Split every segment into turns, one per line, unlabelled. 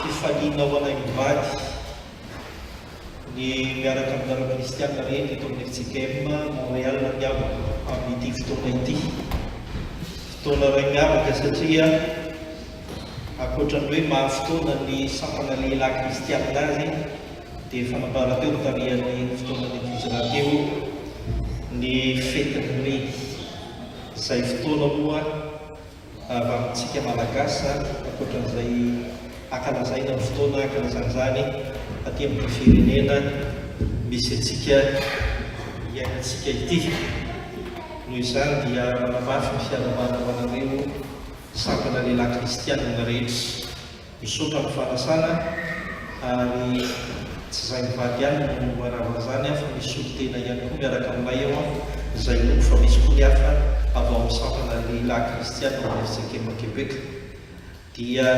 Fifaliana ho anay mivady ny miaraka aminareo kristiana rehetra eto amin'ny FJKM Montréal nampiavaka amin'ity fotoana ity. Fotoana iray miavaka satria ankoatra ny hoe maha-fotoana ny sampana lehilahy kristiana azy dia efa nambara teo ny tarihan'ny fotoanan'ny Hijra teo ny fetin'ny Reny. Izay fotoana moa avy amintsika Malagasy zany ankoatran'izay akalazaina amin'ny fotoana akalazana izany aty amin'ity firenena misy antsika iainantsika ity. Noho izany dia manamafy ny fiarahabana ho anareo sampana lehilahy kristianina rehetra. Misaotra amin'ny fanasana ary tsy zay mivady ihany no manao an'izany an fa misy solontena ihany koa miaraka aminay ao an, izay noko fa misy koa ny hafa avy ao amin'ny sampana lehilahy kristiana ao Mersekepa Quebec dia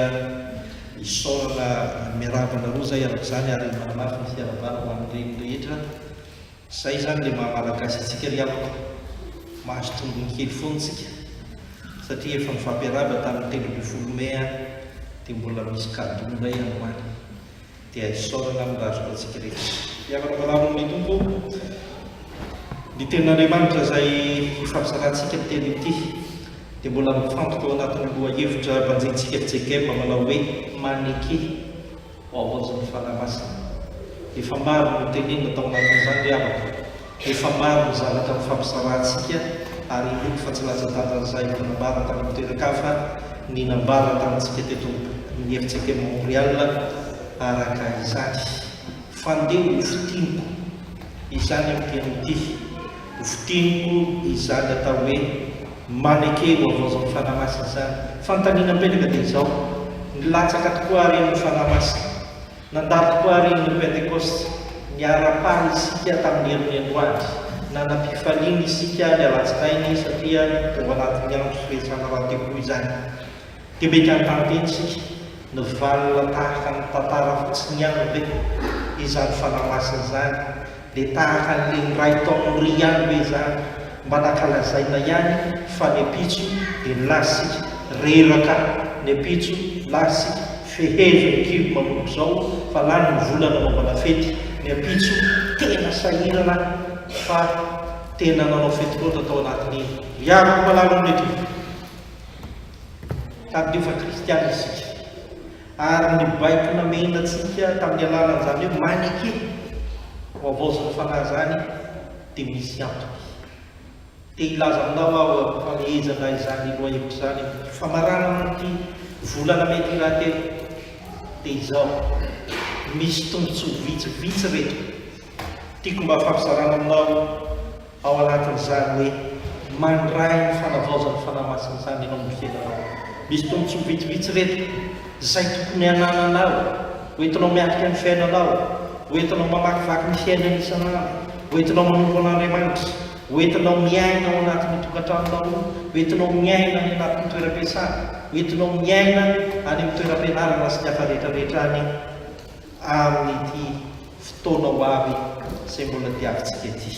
isaorana miarahaba anareo izay amin'izany ary manamafy ny fiarabana ho an'ny reny rehetra. Zay izany le maha malagasy antsika ry havako, mahazo tombony kely foana isika satria efa nifampiarahaba tamin'ny telo ambin'ny folo mai ary dia mbola misy cadeau indray androany, dia isaorana amin'ny razoky antsika rehetra. Miangona manarona amin'ny Tompo ny tenin'Andriamanitra izay ifampizarantsika telo ity, dia mbola mifantoka ao anatin'ny lohahevitra banjintsika JKM manao hoe, maneke. ho havaozin'ny Fanahy Masina. Efa maro ny notenenina tao anatin'izany ry havako. Efa maro ny zavatra nifampisarahantsika, ary inoako fa tsy latsa-danja ny zahay mpanambara tany amin'ny toeran-kafa ny nambara tamintsika teto amin'ny FCT Montréal araka izany. Fandeha ho fintiniko izany amin'ity anio ity. Votiniko izany atao hoe maneke eo havaozan'ny Fanahy Masina izany. Fanontaniana mipetraka dia izao, Nilatsaka tokoa àry ny Fanahy Masina? Nandalo tokoa àry ny Pentekosta? Niara-paly isika tamin'ny herin'ny androany? Nanam-pifaliana isika ny alatsinainy satria tao anatin'ny andro firesahana rahateo koa izany? Dia mety hampandre antsika ny valina tahaka ny tantara fotsiny ihany ve izany fanahy masina izany? Dia tahaka an'ilay niray tao amin'ny ry ihany ve izany? Mba nankalazaina ihany fa ny ampitso dia nilaza isika reraka, ny ampitso nilaza isika feheziny ny kibo manomboka izao fa lany ny vola nanaovana fety, ny ampitso tena sahirana fa tena nanao fety loatra tao anatin'iny. Miaro ny mpalahelo amin'ilay kibo. ka dia efa kristiana isika. Ary ny baiko namehina antsika tamin'ny alalan'izany hoe maneke ho havaozan'ny fanahy izany dia misy antony. Te hilaza aminao aho fa mieja na izany lohahevitra izany aho. Famarana amin'ity volana mey ity rahateo dia izao, misy tombontsoa vitsivitsy ireto tiako mba hampizarana aminao. Ao anatin'izany hoe mandray ny fanavaozan'ny Fanahy Masina izany ianao amin'ny fiainanao. Misy tombontsoa vitsivitsy ireto izay tokony hanananao, hoentinao miatrika ny fiainanao, hoentinao mamakivaky ny fiainana isan'andro, hoentinao manompo an'Andriamanitra, hoentinao miaina ao anatin'ny tokantranonao, hoentinao miaina any anatin'ny toeram-piasana, hoentinao miaina any amin'ny toeram-pianarana sy ny hafa rehetra rehetra any amin'ity Fotoana ho avy izay mbola diavintsika ity.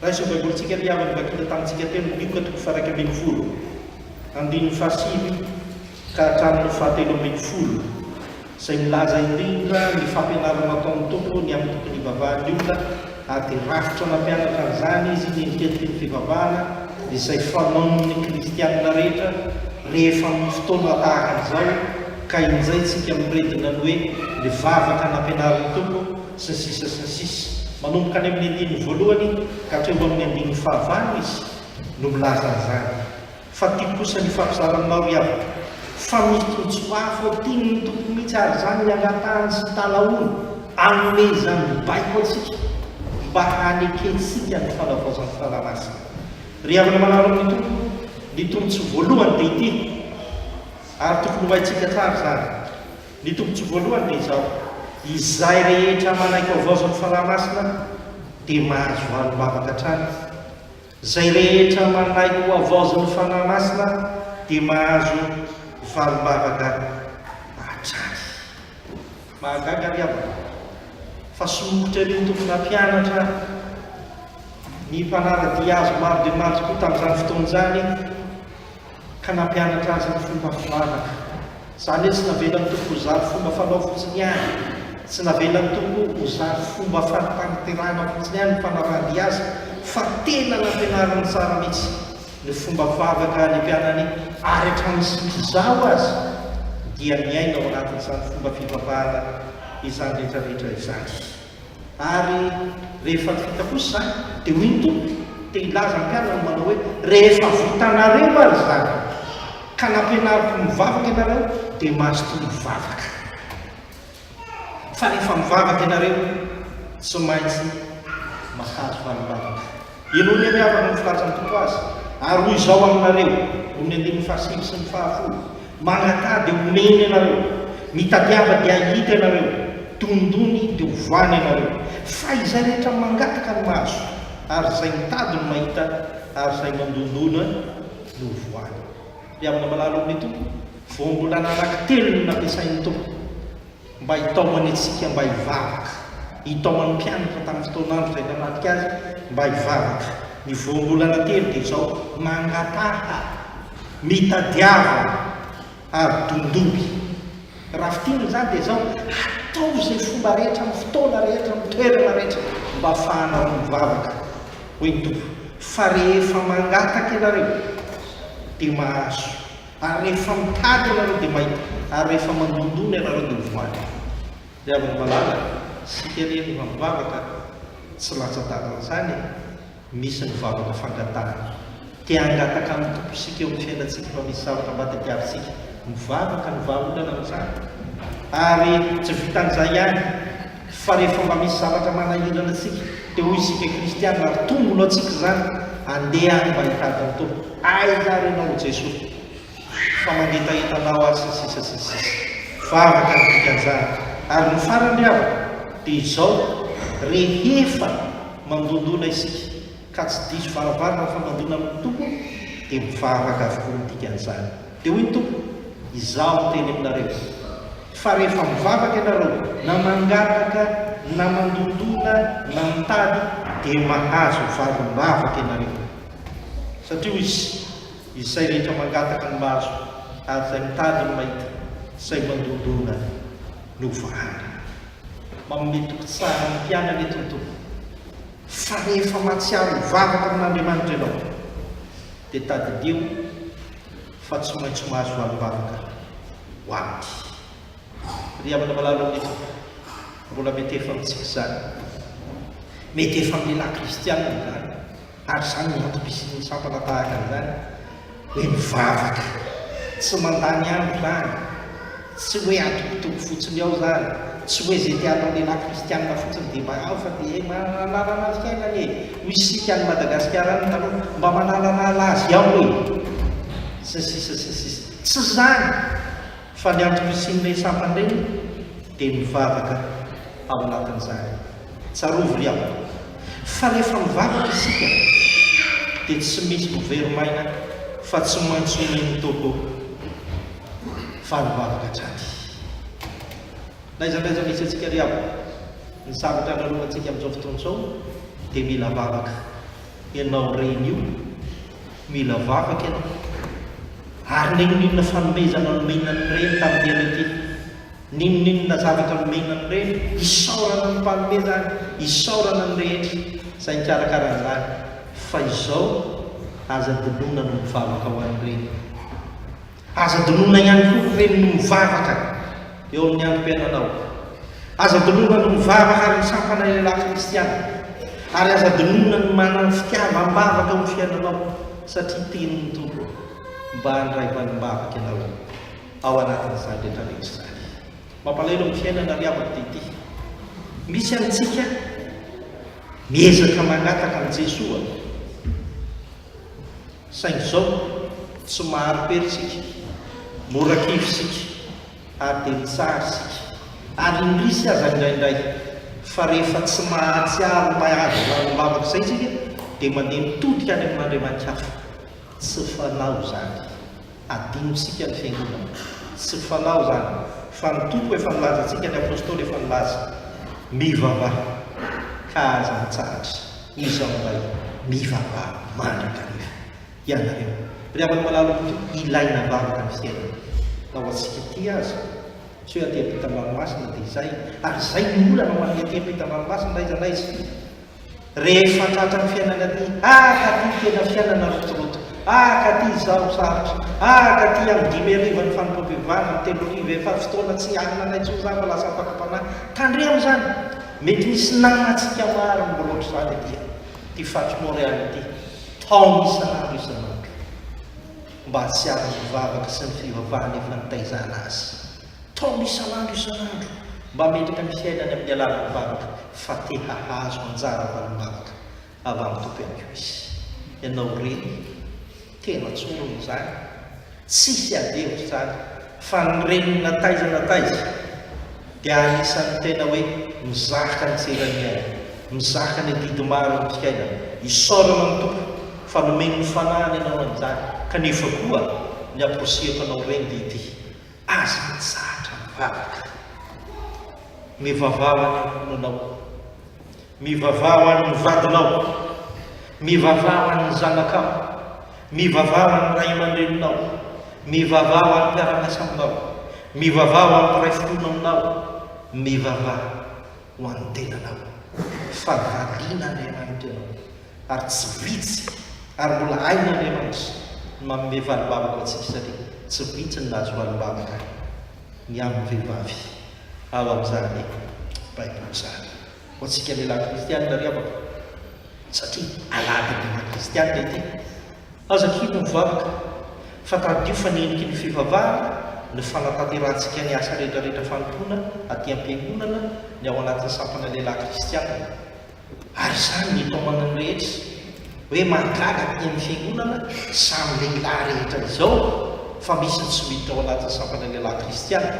Raiso ny Baibolintsika ry havana vakina tamintsika teo ny Lioka toko faha-iraika ambin'ny folo, andininy fahasivy ka hatramin'ny fahatelo ambin'ny folo, izay milaza indrindra ny fampianarana ataon'ny Tompo ny amin'ny tontolo ivavahan'ny olona, ary dia rafitra nampianatra an'izany Izy ny endrikendriky ny fivavahana izay fanaon'ny kristiana rehetra rehefa amin'ny fotoana tahaka an'izao. Ka injay tsika miredona ny hoe ny vavaka nampianarin'ny Tompo sy ny sisa sy ny sisa. Manomboka any amin'ny andininy voalohany ka hatreo amin'ny andininy fahavalo Izy no milaza an'izany. Fa tiako kosa ny hifampizara aminao ry havako fa misy tombontsoa hafa ao tian'ny Tompo mihitsy ary izany ny angatahany sy ny talaony hanome izany baiko antsika mba hanekentsika ny fanavaozan'ny Fanahy Masina. Ry havana manara amin'ny Tompo, ny tombontsoa voalohany dia ity. ary tokony ho haintsika tsara izany. Ny tombontsoa voalohany dia izao, izay rehetra manaiky ho havaozan'ny Fanahy Masina dia mahazo andro vavaka hatrany. Izay rehetra manaiky ho havaozin'ny Fanahy Masina dia mahazo valim-bavaka hatrany. Mahagaga ry havana fa somokotra ery ny tompona mpianatra, ny mpanara-dia azy maro dia maro tokoa tamin'izany fotoana izany, ka nampianatra azy ny fomba fivavaka. Izany hoe tsy navelan'ny Tompo ho zary fomba fanao fotsiny ihany, tsy navelan'ny Tompo ho zary fomba fahatanteraana fotsiny ihany ny fanarahan-dia Azy, fa tena nampianariny tsara mihitsy ny fomba fivavaka ny mpianany ary hatramin'ny sisa izao aza dia miaina ao anatin'izany fomba fivavahana izany rehetra rehetra izany. Ary rehefa vita kosa izany, dia hoy ny Tompo, te hilaza ny mpianany manao hoe, Rehefa vitanareo ary izany, ka nampianariko ny mivavaka ianareo, dia mazotoa mivavaka. Fa rehefa mivavaka ianareo, tsy maintsy mahazo valim-bavaka. Henoy anie avany ny filazan'ny Tompo azy, ary hoy izao aminareo, Ony andininy fahasivy sy ny fahafolo, Mangatà dia homeny ianareo, mitadiava dia hahita ianareo, dondony dia ho voany ianareo. Fa izay rehetra mangataka no mahazo, ary izay mitady no mahita, ary izay mandondona no ho voany. Ry havana malala ao amin'ny Tompo, vao mbola anankitelo no nampiasain'ny Tompo, Mba hitaomany antsika mba hivavaka. Nitaomany ny mpianatra tamin'ny fotoan'andro izay nanafika Azy mba hivavaka. Ny voambolana telo dia izao, Mangataha, mitadiava, ary dondohy. Raha fintinina izany dia izao, Atao izay fomba rehetra, amin'ny fotoana rehetra, amin'ny toerana rehetra, mba hafahanareo mivavaka, hoy ny Tompo, fa rehefa mangataka ianareo, dia mahazo, Ary rehefa mitady ianareo dia mahita, ary rehefa mandondona ianareo dia ho voan'ny. Ry havana malala, isika re no hamivavaka, tsy latsa-dalana izany e! Misy ny vavaka fangatahana. Te hangataka amin'ny Tompo isika eo amin'ny fiainantsika fa misy zavatra mba tadiavintsika. Mivavaka ny vahaolana amin'izany. Ary tsy vitan'izay ihany. Fa rehefa mba misy zavatra manahirana antsika, dia hoy isika kristiana, ary tombo no antsika izany, Andeha any mba hitady ny Tompo. Aiza ary ianao, ry Jesoa, fa mangetaheta anao aho, sy ny sisa sy ny sisa. Vavaka ny dikan'izany. Ary ny farany, ry havana, dia izao, rehefa mandondona isika, ka tsy diso varavarana fa mandona amin'ny Tompo, dia mivavaka avokoa ny dikan'izany. Dia hoy ny Tompo, Izaho niteny aminareo, fa rehefa mivavaka ianareo, na mangataka, na mandondona, na mitady, dia mahazo valim-bavaka ianareo. Satria hoy Izy, Izay rehetra mangataka no mahazo, ary izay mitady no mahita, izay mandondona no ho vahana. Manome toky tsara ny mpianany eto ny Tompo, fa rehefa mahatsiaro hivavaka amin'Andriamanitra ianao, dia tadidio, fa tsy maintsy mahazo valim-bavaka ho aty. Ry havana malala amin'ny Tompo, mbola mety efa amintsika izany. Mety efa amin'ny lehilahy kristiana izany, ary izany no antom-pisian'ny sampana tahaka an'izany hoe mivavaka. Tsy mandany andro izany. Tsy hoe atokotoko fotsiny ao zany, tsy hoe ze te atao lehilahy kristianina fotsiny de mba ao fa de manalana azy kay ngah e, hoy isika any Madagasikara any taloha, mba manalala azy ao e! sy ny sisa sy ny sisa. Tsy zany fa ny antoko hisian'ireny sampana ireny dia mivavaka ao anatin'izany. Tsarovy ry havana fa rehefa mivavaka isika dia tsy misy mivery maina fa tsy maintsy omen'ny Tompo fa mivavaka hatrany. N'aiza n'aiza misy antsika ry havana, ny zavatra lalovantsika amin'izao fotoana izao dia mila vavaka. Ianao reny io, mila vavaka ianao. Ary n'inon'inona fanomezana nomena an'i Reny tamin'ny alika iny. N'inon'inona zavatra nomena ny reny, isaorana ny mpanome izany, isaorana ny rehetra izay nikarakara an'izany, fa izao aza adinoina no mivavaka ho an'ny reny. Aza adinoina ihany koa ny reny no mivavaka eo amin'ny androm-piainanao. Aza adinoina ny mivavaka ary misampana ilay lafy kristiana. Ary aza adinoina ny manana fitiavam-bavaka amin'ny fiainanao, satria tenin'ny Tompo mba handray valim-bavaka ianao. ao anatin'izany rehetra rehetra izany. Mampalahelo amin'ny fiainana ry havako dia ity, misy amintsika miezaka mangataka an'i Jesoa saingy izao tsy mahari-pery isika, mora kivy isika ary dia mitsara isika ary indrisy aza indraindray fa rehefa tsy mahatsiaro ho mahazo raha ny vavaka izay isika dia mandeha mitodika any amin'Andriamanikafa, tsy fanao izany. Adinotsika ny Fiangonana. Tsy fanao izany, fa ny Tompo efa nilaza antsika, ny Apostoly efa nilaza. Mivavaha, ka aza mitsahatra. Izao indray, mivavaha mandrakariva, ianareo. Ry havana malala ho Tompo, ilaina ambavaka ny fiainana. Na ho antsika ity aza. Tsy hoe aty am-pitambaromasina dia izay, ary izay no olana ho an'ny aty am-pitambaromasina na aiza na aiza. Rehefa tratran'ny fiainana aty, ah ka ty tena fiainana rotoroto, ah ka ty izaho sarotra, ah ka ty amin'ny dimy hariva ny fanompoam-pivavahana, amin'ny telo hariva efa fotoana tsy hanina anay intsony za fa lasa ampakam-panahy. Tandremo izany, mety misy namantsika maro no mbola ohatr'izany aty an, ity faritry Montréal ity, taona isan'andro isan'andro, mba tsy ary mivavaka sy ny fivavahana efa nitaizana azy. Taom isan'andro isan'andro mba hametraka ny fiainany amin'ny alalan'ny varotra fa te hahazo anjara valim-bavaka avy amin'ny Tompo ihany koa izy. Ianao re tena tsorina izany, tsisy ady hevitra izany fa ny reniny na taiza na taiza dia anisan'ny tena hoe mizaka ny tseran'iainy, mizaka ny adidy maro amin'ny fiainany. Isaorana ny Tompo fa nomeny ny fanahiny ianao amin'izany kanefa koa ny aposihako anao reny dia ity, Aza mitsahatra mivavaka. Mivavaha ho an'ny ankohonanao. Mivavaha ho an'ny vadinao. Mivavaha ho an'ny zanakao. Mivavaha ho an'ny ray aman-dreninao. Mivavaha ho an'ny mpiara-miasa aminao. Mivavaha ho an'ny mpiray finoana aminao. Mivavaha ho an'ny tenanao. Fa variana Andriamanitra ianao. ary tsy vitsy ary mbola hain'Andriamanitra ny manome valimbavaka ho antsika satria tsy vitsy ny nahazo valimbavaka ny amin'ny vehivavy ao amin'izany Baiboly izany. Ho antsika lehilahy kristianina ry havako, satria alahady ny lahy kristianina ity, aza kivy mivavaka fa tadidio fa ny heniky ny fivavahana ny fanatanterahantsika ny asa rehetrarehetra fanompoana aty am-piangonana ny ao anatin'ny sampana lehilahy kristianina. Ary izany ny itaomana ny rehetra hoe mahagaga aty amin'ny fiangonana izany lehilahy rehetra izao fa misy ny tsy miditra ao anatin'ny sampana lehilahy kristiana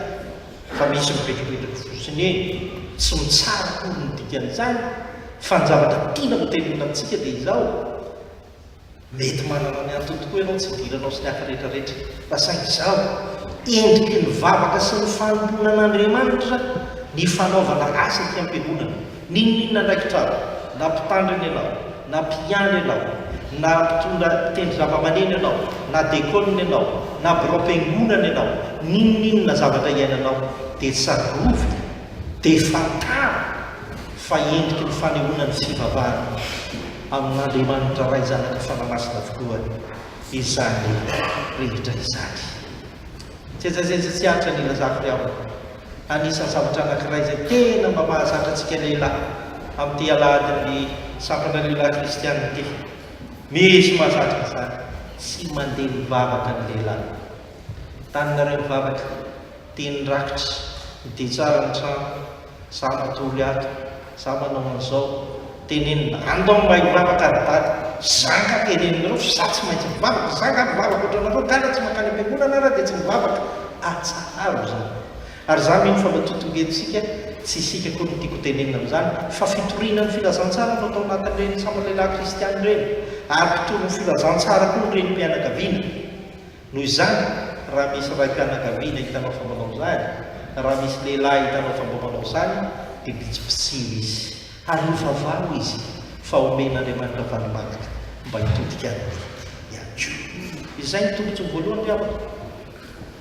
fa misy mivetrovetra fotsiny eny tsy mitsara akory ny dikan'izany fa ny zavatra tiana hoteneninantsika dia izao Mety manana ny antony tokoa ianao tsy hidiranao sy ny hafa rehetra rehetra, fa saingy izao, endriky ny vavaka sy ny fanompoana an'Andriamanitra ny fanaovana asa ety am-piangonana. N'inon'inona andraikitra avy, na mpitandrina ianao, na mpiandry ianao, na mpitondra mpitendry zavamaneno ianao, na dekôna ianao, na biraom-piangonana ianao, n'inon'inona zavatra iainanao, dia tsarovy, dia fantaro, fa endriky ny fanehoana ny fivavahana. amin'Andriamanitra Ray Zanaka Fanahy Masina avokoa izany rehetra izany. Jejajeja tsy atra ny ilazako ry havana, anisan'ny zavatra anankiray izay tena mba mahazatra antsika lehilahy amin'ity alahadin'ny sampana lehilahy kristiana ity. Misy mahazatra an'izany, tsy mandeha mivavaka ny lehilahy. Taninareo mivavaka. Teny rakitra, dia tsara ny trano, za matory ato, za manao an'izao, tenenina, any ndao mba hivavaka ry dada, za nga teneninareo fa za tsy maintsy mivavaka, za nga mivavaka otranareo nga ra tsy mankany ampiangonana ara dia tsy mivavaka, atsaharo izany, ary za mino fa mba totongentsika, tsy isika akory no tiako tenenina amin'izany, fa fitoriana ny filazantsara no atao anatin'ireny sambany lehilahy kristiana ireny, ary mpitory ny filazantsara koa ny renim-pianakaviana. Noho izany, raha misy raim-pianakaviana hitanao fa manao izany, na raha misy lehilahy hitanao fa mba manao izany, dia bitsibitsiho izy, ary ovavaho izy, fa omen'Andriamanitra valimanaka mba hitodika any aminy ihany koa. Izay no tombontsoa voalohany, ry havana,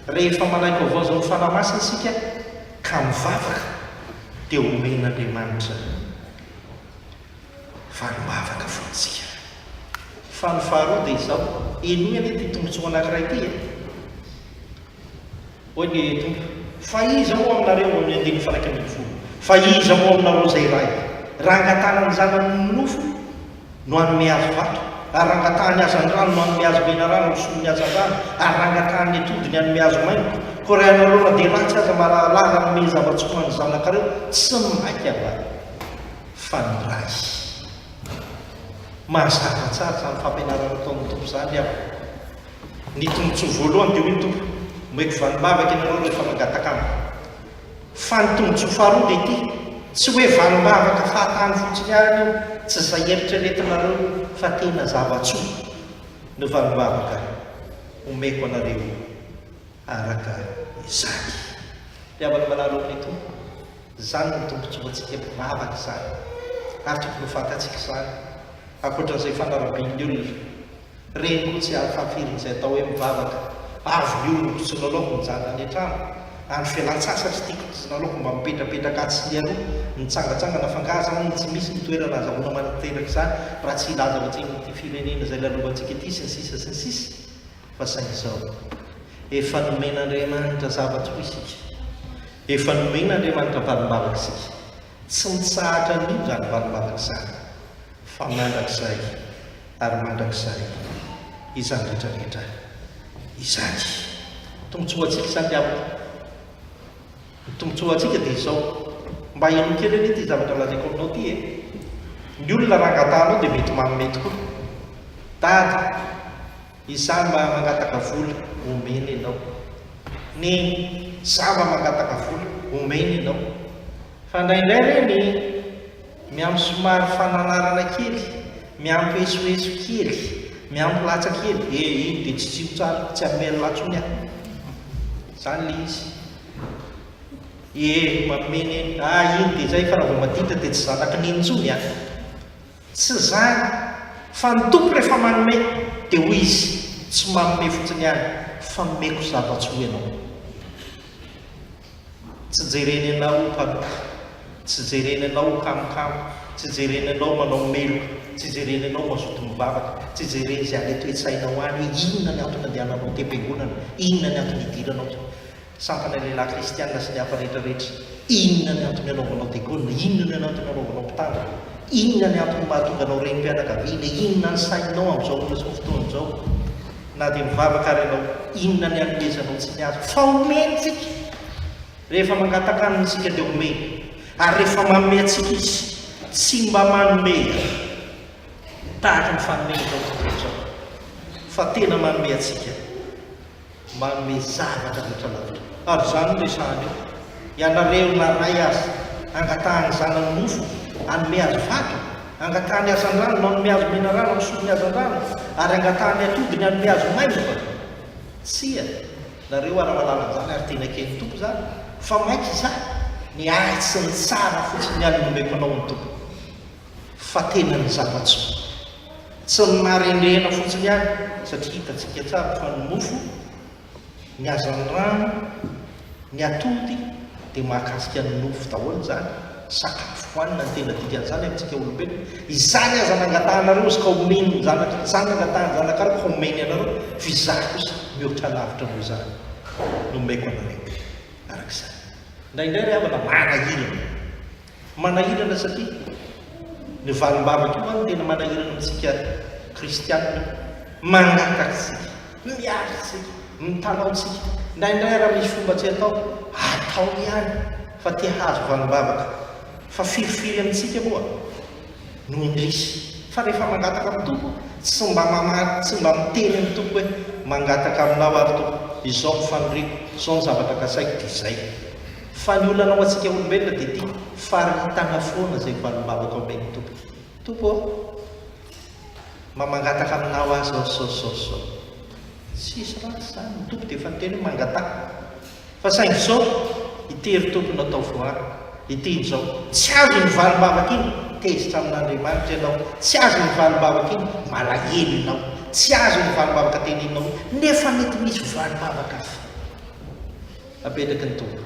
rehefa manaiky-vaovao izao ny Fanahy Masina isika, ka mivavaka, dia omen'Andriamanitra. fa ny vavaka fo ntsika. Fa ny faharoa dia izao, henoy anie ity tombotsoa anankiray ity e! Hoy ny Tompo, Fa iza moa aminareo, ao amin'ny andininy faha-iraika ambin'ny folo, fa iza moa aminareo izay iray, raha angatahana ny zanany ny nofo, no hanome azy vato? ary raha angatahany hazan-drano no hanome azy menarana ho solon'ny hazan-drano? ary raha angatahany ny atody ny hanome azy maingoka? koa raha ianareo na dia ratsy aza marahalala hanome zava-tsoa ho an'ny zanakareo, tsy maika va? fa ny Ray. Mahazatra tsara izany fampianarana ataon'ny Tompo izany aho. Ny tombotsoa voalohany dia hoy ny Tompo, Omeko valim-bavaka ianareo rehefa mangataka Amiko. Fa ny tombotsoa faharoa dia ity, tsy hoe valim-bavaka fahatany fotsiny ihany io, tsy izay eritreretinareo io, fa tena zava-tsoa no valim-bavaka omeko anareo io. araka izany. Mpihavana manaraka ao amin'ny Tompo, izany no tombotsoantsika mivavaka izany, ary tokony ho fantatsika izany, ankoatra an'izay fanarabian'ny olona, ireny koa tsy ahafahafirin'izay atao hoe mivavaka, avy ny olona mpisonolaoka mijanona any an-trano, andro fialan-tsasatra ity ka tsy nalaoko mba mipetrapetraka atsy sy aroa, mitsangatsangana fa angaha izany tsy misy ny toerana azahoana manantanteraka izany raha tsy hilaza ao an-tsehon'ity firenena izay lalovantsika ity, sy ny sisa sy ny sisa. Fa saingy izao, efa nomen'Andriamanitra zavatra roa isika. Efa nomen'Andriamanitra valimbalaka isika. Tsy mitsahatra an'io izany valimbalaka izany, fa mandrakizay ary mandrakizay izany rehetra rehetra izany. Tombontsoa ho antsika izany diaby ô! Ny tombotsoa ho antsika dia izao, mba henoy kely anie ity zavatra lazaiko aminao ity e! Ny olona raha angataha anao dia mety manome tokoa. Dada, izaho mba mangataka vola, omena ianao. Neny, izaho mba mangataka vola, omena ianao. Fa indraindray re ny miampy somary fananarana kely, miampy esoeso kely, miampy latsa kely, eh iny dia tsy tsilo tsara, tsy hanome an'la tsony aho. Izany ilay izy. Ee, mameno eny. Ah, iny dia izay, fa raha vao maditra dia tsy zanaky ny iny intsony an! Tsy izany, fa ny Tompo rehefa manome, dia hoy Izy, tsy manome fotsiny ihany, fa nomeko zava-tsy ho ianao. Tsy jereny anao ho mpanoka, tsy jereny anao ho kamokamo, tsy jereny anao manao meloka, tsy jereny anao mazoto mivavaka, tsy jereny izay any an-toetsainao any hoe inona ny antony andehananao an-tem-piangonana, inona ny antony hidiranao. Sampana ny lehilahy kristiana sy ny hafa rehetra rehetra. Inona ny antony anaovanao diakona? Inona ny antony anaovanao mpitandrina? Inona ny antony mahatonga anao renim-pianakaviana? Inona ny sainao amin'izao ora sy amin'izao fotoana izao? Na dia mivavaka ary ianao, inona ny anomezanao tsy ny azo? Fa omeny isika! Rehefa mangataka aminy isika dia omeny. Ary rehefa manome antsika izy, tsy mba manome tahaka ny fanome eto amin'izao tontolo izao, fa tena manome antsika. manome zavatra rehetra lavitra ary izany no resahana eo, ianareo naray azy hangatahany zanany nofo hanome azy vato, hangatahany hazandrano manome azy menarano misolo ny hazandrano ary hangatahany atodiny hanome azy maimbo va? Tsia, nareo ary mahalala an'izany ary teny akehin'ny Tompo izany fa maika izaho, ny ahy sy ny tsara fotsiny ihany no omeko anao ny Tompo. fa tena ny zava-tsoa. Tsy ny maha-rendrehana fotsiny ihany, satria hitantsika tsara fa ny mofo, ny hazan'ny rano, ny atody dia mahakasika ny nofo daholo izany, sakafo hohanina ny tena dikan'izany amintsika olombelona. Izany aza nangatahanareo izy ka omeny ny zanaka, izany nangatahany ny zanakareo ka omeny anareo, fa izaho kosa mihoatra lavitra noho izany no omeko anareo. Araka izany. Indraindray ry havana, manahirana. Manahirana satria ny valim-bavaka io no tena manahirana amintsika kristianina. Mangataka isika, miady isika, mitalaho isika. Indraindray raha misy fomba tsy atao, atao ihany fa te hahazo valim-bavaka. Fa firifiry amintsika moa no indrisy fa rehefa mangataka amin'ny Tompo, tsy mba mamaly, tsy mba miteny amin'ny Tompo hoe mangataka aminao ary Tompo, izao ny faniriako, izao ny zavatra kasaiko dia izay. Fa ny olana ho antsika olombelona dia ity, faritana foana izay valim-bavaka omen'ny Tompo. Tompo ô! Mba mangataka aminao aza aho sao sao sao. Tsisy ratsy izany, ny Tompo dia efa niteny hoe mangataka. Fa saingy sao ity ry Tompo no atao voaro, ity injao. Tsy azo iny valim-bavaka iny, tezitra amin'Andriamanitra ianao. Tsy azo iny valim-bavaka iny, malahelo ianao. Tsy azo iny valim-bavaka teneninao iny, nefa mety misy valim-bavaka hafa. Apetraky ny Tompo.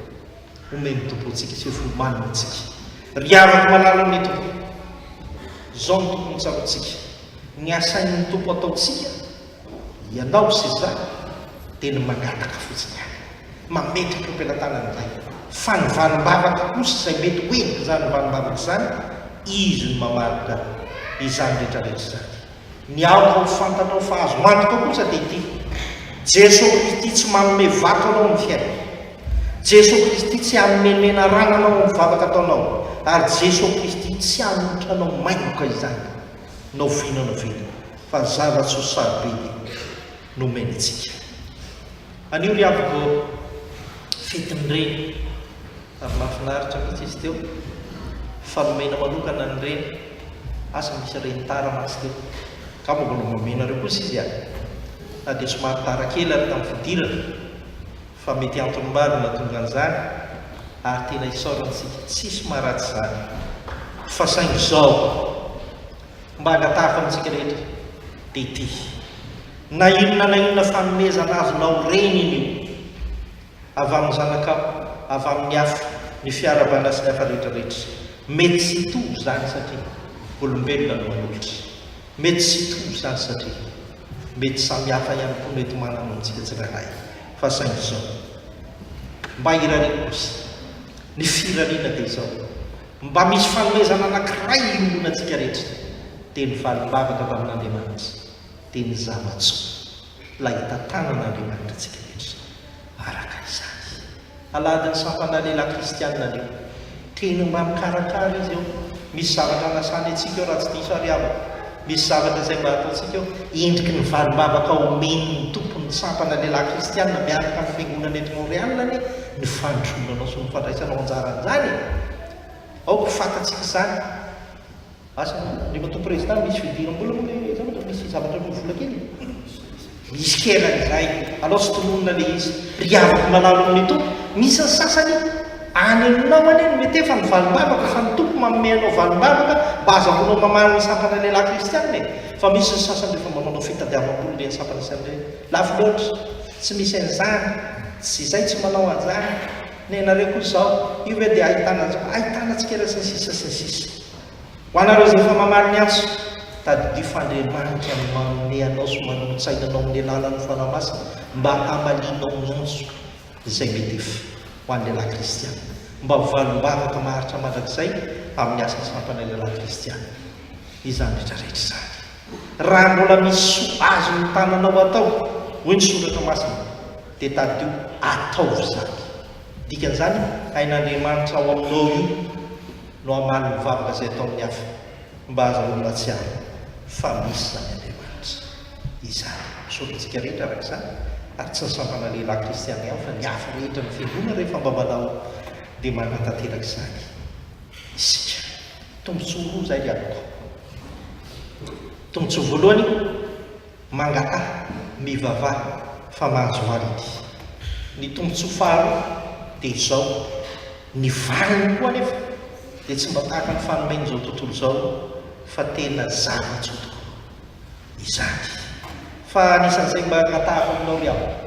Omen'ny Tompo antsika sy homaniny antsika. Ry havako malala amin'ny Tompo. Izao no tokony hotsaroantsika. Ny asain'ny Tompo ataontsika, ianao sy izaho, dia ny mangataka fotsiny ihany. Mametraka eo am-pelatanan'ny Ray. Fa ny valim-bavaka kosa izay mety ho endrik'izany valim-bavaka izany, Izy no mamaritra izany rehetrarehetra izany. Ny aoka ho fantanao fa azonao antoka kosa dia ity, Jeso Kristy tsy manome vato anao amin'ny fiainana. Jeso Kristy tsy hanome menarana anao amin'ny vavaka ataonao, ary Jeso Kristy tsy hanohitra anao maimboka izany na oviana na oviana, fa zava-tsoa sarobidy no omeny antsika. Anio ry havako fetin'ny reny. Ary mahafinaritra mihitsy izy teo. Fa nomena manokana ny reny. Asa misy reny tara mantsy teo. Angamba mbola homenareo kosa izy an! Na dia somary tara kely ary tamin'ny fidirana. Fa mety antony maro no nahatonga an'izany, ary tena isaorantsika tsisy maharatsy izany. Fa saingy izao, mba angataha fa amintsika rehetra dia ity, Na inona na inona fanomezana azonao reny iny io, avy amin'ny zanakao, avy amin'ny afo, ny fiarahabana sy ny hafa rehetra rehetra. Mety tsy hitovy izany satria olombelona no manolotra. Mety tsy hitovy izany satria mety samihafa ihany koa mety manana amintsika tsirairay. Fa saingy izao. Mba hirariana kosa. Ny firariana dia izao. Mba misy fanomezana anankiray iombonantsika rehetra. Dia ny valim-bavaka tamin'Andriamanitra. Dia ny zava-tsoa. Ilay hitantanana Andriamanitra antsika rehetra araka izany. Alahadin'ny Sampana Lehilahy Kristianina anio. Teny mba mikarakara izy eo. Misy zavatra anasany antsika eo raha tsy diso ary havako. Misy zavatra izay mba ataontsika eo. Endriky ny valim-bavaka omen'ny Tompo ny Sampana Lehilahy Kristianina miaraka amin'ny Fiangonana eto Montréal anie ny fandrosoanao sy ny fandraisanao anjara an'izany e. Aoka ho fantatsika izany. Asa anao, ry matoa prezida, misy fidiram-bola moa ve izany raha misy zavatra no vola kely e? Misy kena izay, alao tsy tononina ilay izy. Ry havako malalo amin'ny Tompo, misy ny sasany any aminao anie no mety efa ny valim-bavaka fa ny Tompo manome anao valim-bavaka mba azahoanao mamaly ny sampana lehilahy kristiana e! Fa misy ny sasany rehefa manaonao fitadiavam-bola ireny sampana sy an'ireny, lafo loatra, tsy misy an'izany, tsy izay, tsy manao an'izany, nenareo koa izao, io ve dia ahitana an'izao, ahitana tsikera sy ny sisa sy ny sisa. Ho anareo izay efa mamaly ny antso, tadidio fa Andriamanitra no manome anao sy manolo-tsaina anao amin'ny alalan'ny Fanahy Masina mba hamalianao ny antso izay mety efa ho an'ny lehilahy kristiana mba ho valim-bavaka maharitra mandrakizay amin'ny asa sampan'ny lehilahy kristiana izany rehetra rehetra izany. Raha mbola misy soa azon'ny tananao atao, hoy ny Soratra Masina, dia tadidio ataovy izany. Dikan'izany, hain'Andriamanitra ao aminao io. no hamaly ny vavaka izay ataon'ny hafa mba ahazahoany mahatsiaro fa misy izany Andriamanitra izany. Misaotra antsika rehetra araka izany ary tsy ny sampana lehilahy kristiana ihany fa ny hafa rehetra ny fiangonana rehefa mba manao dia manatanteraka izany isika. Tombontsoa roa izay ry havako. Tombontsoa voalohany. Mangataha, mivavaha fa manjoala ity. Ny tombontsoa faharoa dia izao, ny valiny koa anefa dia tsy mba tahaka ny fanomen'izao tontolo izao fa tena zava-tsoa tokoa izany. Fa anisan'izay mba angatahako aminao ry havana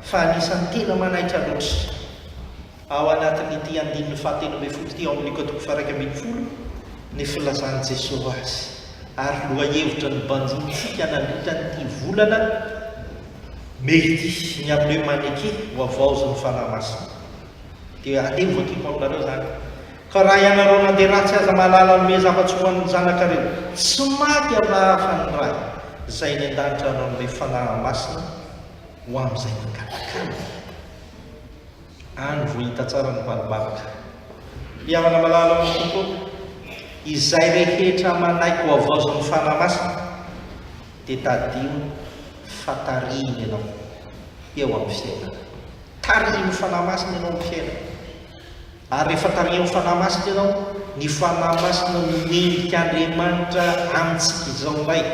fa anisan'ny tena manaitra loatra. Ao anatin'ity andininy fahatelo ambin'ny folo ity ao amin'ny Luka toko faha-iraika ambin'ny folo, ny filazan'i Jesoa azy, ary lohahevitra nobanjinintsika nandritran'ity volana mey ity, ny amin'ny hoe Maneke ho havaozin'ny Fanahy Masina. Dia aleho vakiko aminareo izany, Ka raha ianareo na dia ratsy aza mahalala hanome zava-tsoa ho an'ny zanakareo, tsy maty afa-raha afa ny Ray izay eny an-danitra hanome Fanahy Masina ho amin'izay mangataka Azy. Any vao hita tsara ny valom-barotra. Ry havana malala ao amin'ny Tompo, izay rehetra manaiky ho havaozin'ny Fanahy Masina, dia tadidio fa tarihiny ianao eo amin'ny fiainana. Tarihin'ny Fanahy Masina ianao amin'ny fiainana. Ary rehefa tarihin'ny Fanahy Masina ianao, ny Fanahy Masina no mendrika Andriamanitra amintsika izao indray.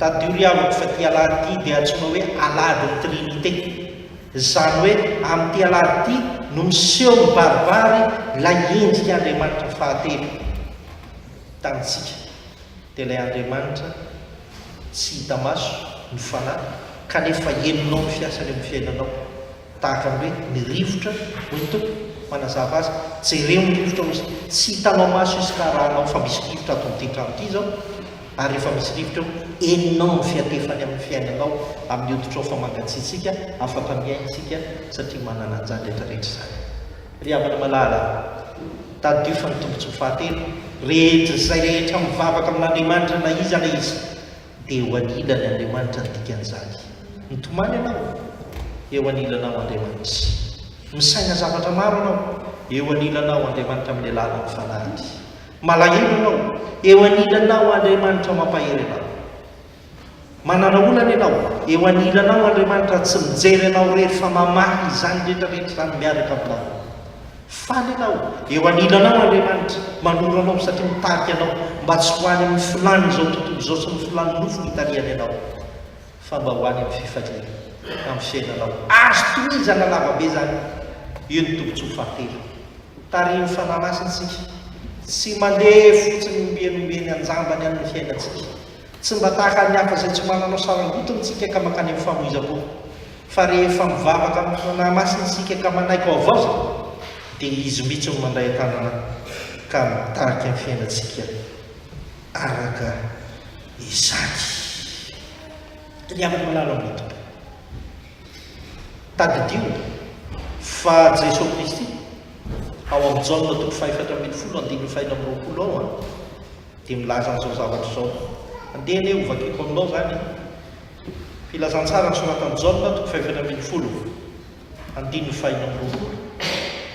Tadidio ry havako fa ity Alahady ity dia antsoina hoe Alahadin'ny Trinite. Izany hoe amin'ity alahady ity no miseho mibaribary ilay endrika Andriamanitra fahatelo tamintsika. Dia ilay Andriamanitra tsy hita maso no Fanahy kanefa henonao ny fiasany eo amin'ny fiainanao. Tahaka ny hoe ny rivotra, hoy ny Tompo, manazava azy, jereo ny rivotra, hoy Izy, tsy hitanao maso izy ka arahanao fa misy rivotra ato amin'ity trano ity izao, ary rehefa misy rivotra eo, henonao ny fihatefany amin'ny fiainanao, amin'ny hoditrao fa mangatsiatsiaka, afaka mihaino isika satria manana an'izany rehetra rehetra izany. Ry havana malala, tadidio fa ny tombontsoa fahatelo rehetra, izay rehetra mivavaka amin'Andriamanitra na iza na iza, dia eo anilany Andriamanitra ny dikan'izany. Mitomany ianao, eo anilanao Andriamanitra. Misaina zavatra maro ianao, eo anilanao Andriamanitra amin'ny alalan'ny Fanahiny. Malahelo ianao, eo anilanao Andriamanitra mampahery anao. Manana olana ianao, eo anilanao Andriamanitra tsy mijery anao irery fa mamaha izany rehetra rehetra izany miaraka aminao. Faly ianao, eo anilanao Andriamanitra manoro anao satria mitarika anao mba tsy ho any amin'ny filan'izao tontolo izao sy ny filan'ny nofo hitarihany anao. fa mba ho any amin'ny fifaliana amin'ny fiainanao. Azo tohizana lavabe izany. Io ny tombontsoa fahatelo. Tarihin'ny Fanahy Masina isika. Tsy mandeha fotsiny ombieny ombieny an-jambany any ny fiainantsika. Tsy mba tahaka an'ny hafa izay tsy mananao sarangotiny isika ka mankany amin'ny famoizam-po. Fa rehefa mivavaka amin'ny Fanahy Masina isika ka manaiky ho havaozina, dia Izy mihitsy no mandray an-tanana ka mitarika ny fiainantsika araka. Isaky ny amin'ny alalan'ny Tompo. Tadidio fa Jesoa Kristy, ao amin'ny Jaona toko fahefatra ambin'ny folo andininy fahenina amby roapolo ao an, dia milaza an'izao zavatra izao. Andeha anie hovakiko aminao izany filazantsara nosoratan'i Jaona toko fahefatra ambin'ny folo. andininy faheno amby roapolo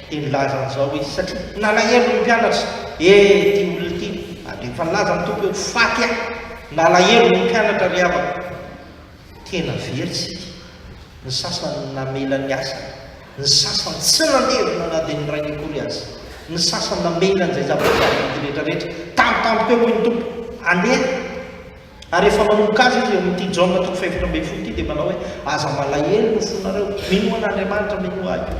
dia nilaza an'izao izy satria nalahelo ny mpianatra ee ity olona ity ary rehefa nilaza ny Tompo hoe faty aho nalahelo ny mpianatra ry havako tena very isika ny sasany namela ny asany ny sasany tsy nandevina na dia ny rainy akory aza ny sasany namela an'izay zava-boahary rehetrarehetra tampotampoka eo hoy ny Tompo andeha Ary rehefa manomboka azy izy amin'ity Jaona toko fahefatra ambin'ny folo ity dia manao hoe, Aza malahelo ny fonareo, minoa an'Andriamanitra, minoa Ahy koa.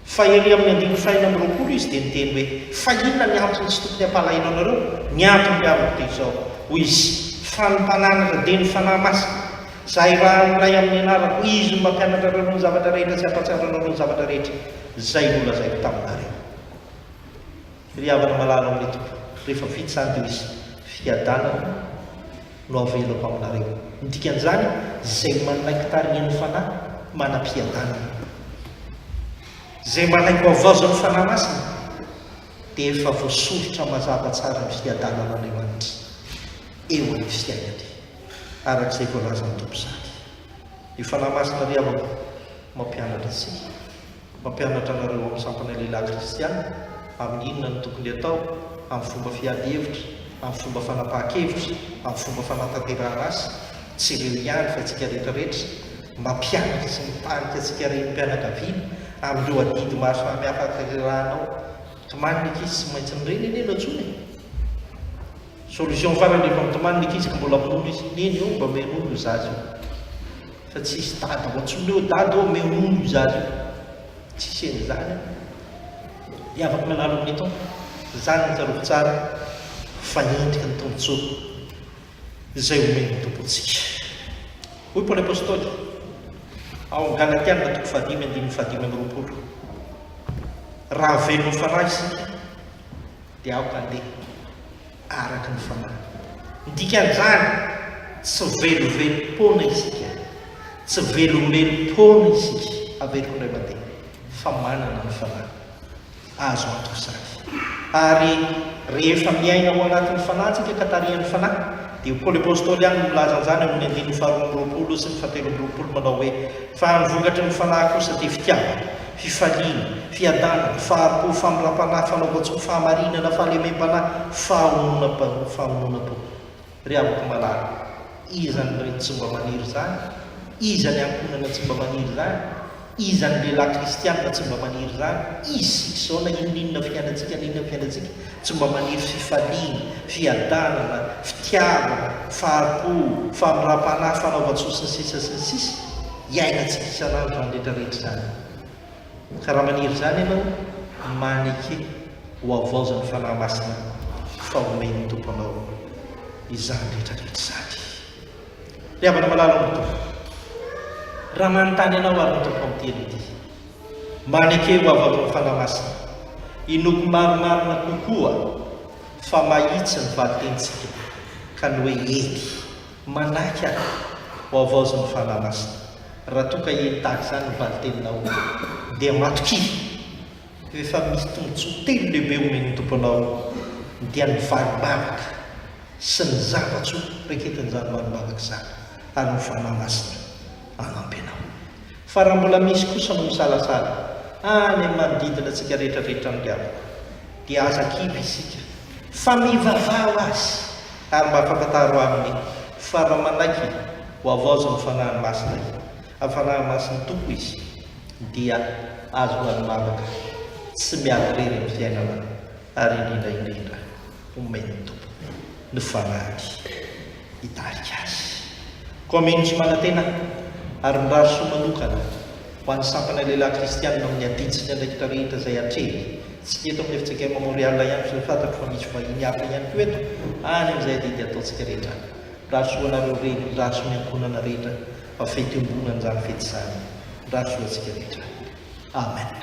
Fa ery amin'ny andininy fahenina amby roapolo izy dia niteny hoe, Fa inona ny antony tsy tokony hampalahelo anareo? Ny antony be amiko dia izao, hoy izy, fa ny mpananatra dia ny Fanahy Masina. Izaho irahan'ny Ray amin'ny anarako, Izy no mampianatra anareo ny zavatra rehetra sy hampahatsiaro anareo ny zavatra rehetra izay nolazaiko taminareo. Ry havana malala amin'ny Tompo, rehefa vita izany dia misy fiadanana no avelako aminareo. Ny dikan'izany, izay manaiky tarihan'ny Fanahy manam-piadanana. Izay manaiky hohavaozan'ny Fanahy Masina dia efa voasoritra mazava tsara ny fiadanan'Andriamanitra eo amin'ny fiainany, araka izay voalazan'ny Tompo izany. Ny Fanahy Masina ry havako mampianatra antsika. Mampianatra anareo amin'ny sampana lehilahy kristiana amin'ny inona no tokony atao, amin'ny fomba fiady hevitra, amin'ny fomba fanapahan-kevitra, amin'ny fomba fanatanterahana asa, tsy ireo ihany fa antsika rehetrarehetra, mampianatra sy mitarika antsika renim-pianakaviana amin'ireo adidy maro samihafa atanterahanao, tomany ny ankizy tsy maintsy nireny anie no antsoina e! Solution farany efa mitomany ny ankizy ka mbola minono izy neny eo mba omeo nono io zaza io fa tsy hisy dada ao antsony hoe dada ô omeo nono io zaza io tsisy an'izany an dia afaka manalo amin'ny tompo izany no tsarovy tsara fa endrika ny tombontsoa izay omen'ny tompo antsika hoy paoly apostoly ao amin'ny galatiana toko fahadimy andininy fahadimy amby roapolo raha velona fanahy isika dia aoka handeha araka ny fanahy. Ny dikan'izany, tsy velovelom-poana isika, tsy velombelom-poana isika, averiko indray mandeha, fa manana ny fanahy. Azo antoka izany. Ary rehefa miaina ao anatin'ny fanahy isika ka tarihan'ny fanahy, dia Paoly Apostoly ihany no milaza an'izany ao amin'ny andininy faharoa amby roapolo sy ny fahateloamby roapolo manao hoe, Fa ny vokatry ny fanahy kosa dia fitiavana, fifaliana, fiadanana, fahari-po, famindram-panahy, fanaovan-tsoa, fahamarinana, fahalemem-panahy, fahononam-pa, fahononan-po. Ry havako malala, iza ny reny tsy mba maniry izany? Iza ny ankohonana tsy mba maniry izany? Iza ny lehilahy kristianina tsy mba maniry izany? Isika izao, na inoninona fiainantsika, na inona fiainantsika, tsy mba maniry fifaliana, fiadanana, fitiavana, fahari-po, famindram-panahy, fanaovan-tsoa, sy ny sisa sy ny sisa. Hiainantsika isan'andro izany rehetra rehetra izany. Ka raha maniry izany ianao, maneke ho havaozan'ny Fanahy Masina fa homen'ny Tompo anao izany rehetra rehetra izany. Ry havana malala ao amin'ny Tompo, raha manontany anao ary ny Tompo amin'ity ianao ity, maneke ho havaozan'ny Fanahy Masina, inoako marimarina kokoa fa mahitsy ny valin-tenintsika ka ny hoe eny Manaiky aho ho havaozin'ny Fanahy Masina. Raha toa ka hiely tahaka izany ny valin-teninao, dia matokia. Rehefa misy tombontsoa telo lehibe omen'ny Tompo anao, dia ny valim-bavaka sy ny zava-tsoa reketin'izany valim-bavaka izany, ary ny Fanahy Masina hanampy anao. Fa raha mbola misy kosa no misalasala any amin'ny manodidina antsika rehetra avy hatrany ry havana, dia aza kivy isika, fa mivavaha ho azy, Ary mba ampafantaro aminy fa raha manaiky ho havaozan'ny Fanahy Masina i, amin'ny Fanahy Masin'ny Tompo izy, dia azo ho any mamaka, tsy miala irery amin'ny fiainana, ary indrindra indrindra omen'ny Tompo ny Fanahiny hitarika azy. Koa mino sy manantena ary mirary soa manokana Ho an'ny sampana lehilahy kristianina amin'ny adin-tsy ny andraikitra rehetra izay atrehiny. Tsy ny eto amin'ny Efitraka Emma Montréal ihany fa efa fantatro fa misy vahiny hafa ihany koa eto, any amin'izay adidy ataontsika rehetra any. Mirary soa anareo reny, mirary soa ny ankohonana rehetra fa fety iombonana izany fety izany. Mirary soa antsika rehetra. Amen.